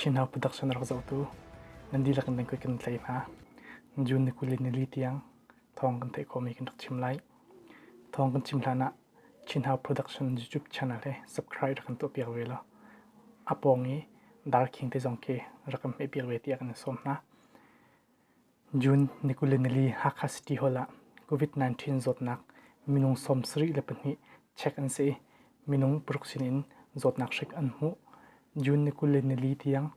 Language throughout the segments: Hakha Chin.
Chinhau padak cu an rak zohtu. Nan dihlak in nan kuih kan tlaih hna. June ni kuli nili tiang thawng kan theih khawhmi kan rak chim lai. Thawng kan chim hlanah Chinhau Production YouTube channel he subscribe rak kan tuahpiak ve law a pawng i Darkhing te zong khi rak kan hmehpiak ve tiah kan in sawm hna. June ni kuli nili Hakha City Hall ah COVID-19 zawtnak minung sawmsarih le pahnih check an si i minung paruk sinin zawtnak hrik an hmuh. June ni kuli nili tiang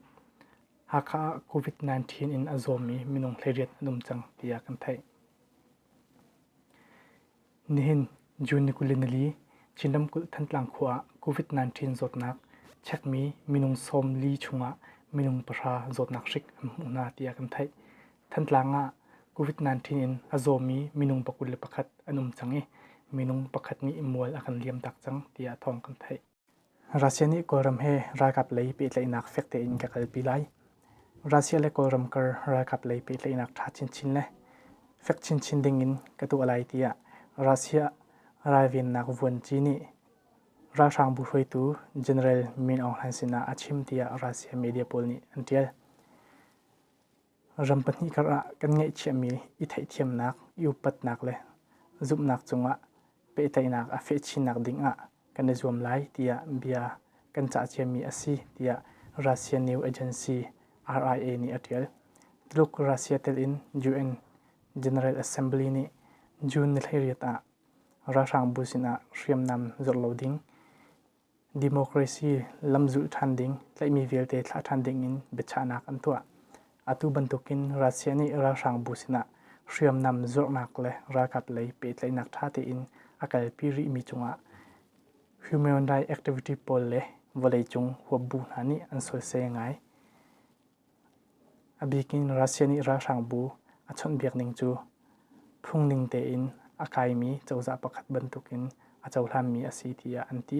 Hakha ah COVID-19 in a zawmi minung hliriat an um cang tiah kan theih. Nihin June ni kuli nili Chin ramkulh Thantlang khua ah COVID-19 zawtnak chekmi minung sawm li chungah minung pahra zawtnak hrik an hmuh hna tiah kan theih. Thantlang ah COVID-19 in a zawmi minung pakul le pakhat an um cang i minung pakhat nih mual a kan liam tak cang tiah thawng kan theih. Russia nih Kawlram he ralkap lei pehtlaihnak fek tein ka kalpi lai. Russia le Kawlram kar ralkap lei pehtlaihnak ṭha chinchin le fek chinchin dingin ka tuah lai tiah Russia ralvennak vuanci nih ralhrang bu hruaitu General Min Aung Hlaing sinah a chim tiah Russia media pawl nih an ṭial. Ram pahnih kar ah kan ngeihchiahmi i theihthiamnak, i upatnak le zumhnak cungah pehtlaihnak a feh chinnak dingah kan i zuam lai tiah bia kan cah ciami a si tiah Russia News Agency RIA nih a ṭial. Tuluk Russia telin UN General Assembly nih June ni hleiriat ah ralhrangbu sinah hriamnam zor lo ding Democracy lamzulh ṭhan ding, tlaihmi vialte thlah ṭhan dingin biachahnak an tuah. Atu bantukin Russia nih ralhrangbu sinah hriamnam zornak le ralkap lei pehtlaihnak ṭha tein a kalpi rihmi cungah human rights activity pawl le vawleicung huapbu hna nih an sualsai ngai. A bik in Russia nih ralhrangbu a chawnhbiak ning cu phungning tein a kaimi cozah pakhat bantuk in a cohlanmi a si tiah an ti.